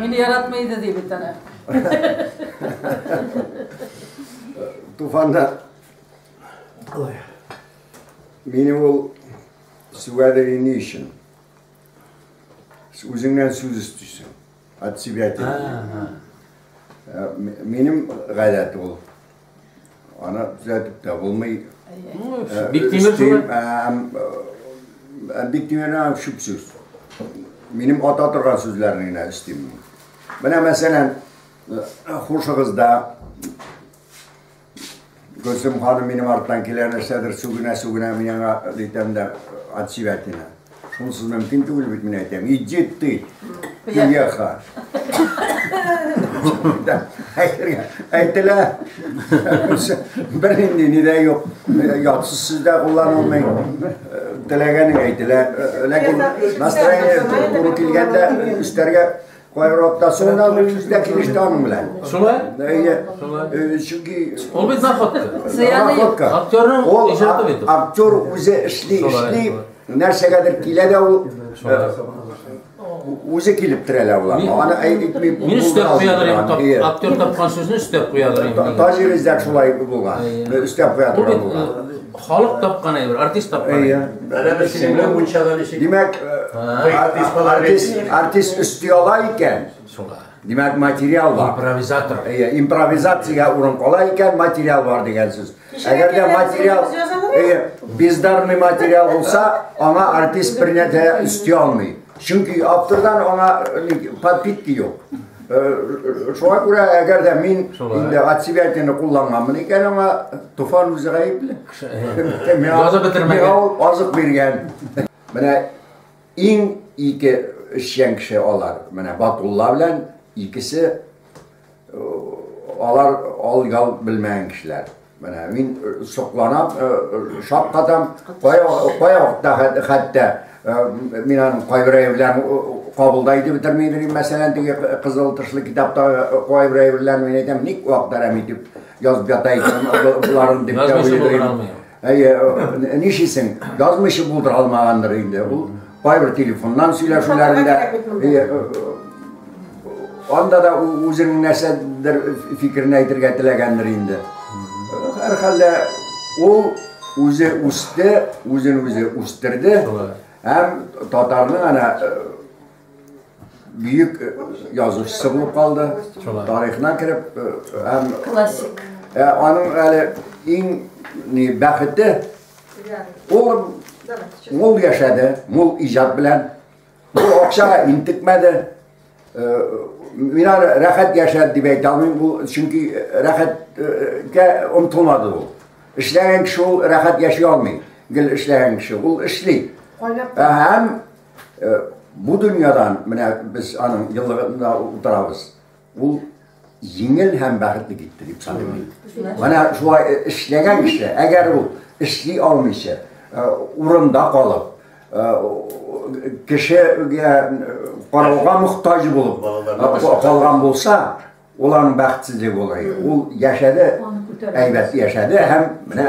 Мине яратмый иде, ди бит әнә. Туфанда мине ул сүгәдеге ни өчен? Үзеңнән сүз өстисең. От себя тебе. Минем гадәт ул. Аны төзәтеп тә булмый. Биктимер Биктимернең шуп сүз. Минем ата торган сүзләрне генә эстим. Менә мәсәлән, хушыгызда Гөлсем ханым минем арттан килә, нәрсәдер сүгенә-сүгенә, мин аңа әйтәм дә, отсебятина. Шунысы мөмкин түгел бит, мин әйтәм. Иди ты, пияха. Әйтелә. Бернинди ни дә юк. Ятсыз сүз дә кулланылмый. Теләгәнең әйтелә. Ләкин настроение туры килгәндә өстәргә Кайбер аптасы гына үзе дә килеште аның белән. Шулай? Әйе. Шулай. Чөнки ул бит находка. Находка. Актерның иҗаты бит. Актер үзе эшли, эшли, нәрсәгәдер килә дә ул үзе килеп терәлә була. Аны әйтми бу. Мин өстәп куядыр инде. Актер тапкан сүзне өстәп куядыр инде. Таҗир издәк шулай булган. Өстәп куядыр булган. Халык тапкан әйбер, артист тапкан әйбер. Әйе. Әнә без сине мунчада ничек? Димәк, э, артист артист артист өсти ала икән. Шуңа. Димәк, материал бар. Импровизатор. Әйе, импровизациягә урын кала икән, материал бар дигән сүз. Әгәр дә материал, әйе, бездарный материал булса, аңа артист бернә дә өсти алмый. Чөнки автордан аңа э, подпитки юк. Шуңа күрә, әгәр дә мин инде от себя итене кулланганмын икән, аңа Туфан үзе гаепле. Язып бетермәгән. Миңа ул азык биргән. Менә иң ике эшчән кеше алар. Менә Батулла белән икесе алар ал ял белмәгән кешеләр. Менә мин сокланам, шаккатам, кая вакытта хәтта мин аның кайбер әйберләрен кабылда итеп бетерми идем, мәсәлән, теге кызыл тышлы китапта кайбер әйберләрен мин әйтәм, ник вакыт әрәм итеп язып ята икән боларын дип тә уйлыйм. Әйе, ничисең, язмыйча булдыра алмагандыр инде ул. Кайбер телефоннан сөйләшүләрендә анда да үзенең нәрсәдер фикерен әйтергә теләгәндер инде. Һәрхәлдә ул үзе үсте, үзен үзе үстерде. Һәм татарның ана бөек язучысы булып калды. Тарихына кереп һәм классик. Аның әле иң бәхете Ул мул яшәде, мул иҗат белән. Бу акчага интекмәде. Э, мин аны рәхәт яшәде дип әйтә алмыйм, бу чөнки рәхәткә омтылмады ул. Эшләгән кеше ул рәхәт яши алмый. Гел эшләгән кеше ул эшли. Һәм э, бу дөньядан менә без аның еллыгында утырабыз. Ул җиңел һәм бәхетле китте дип саныйм мин. Менә шулай э, эшләгән кеше, әгәр ул эшли алмыйча, э, урында калып, э, кешегә карауга мохтаҗ булып калган булса, ул аның бәхетсезлеге булыр. Ул яшәде, әйбәт яшәде һәм менә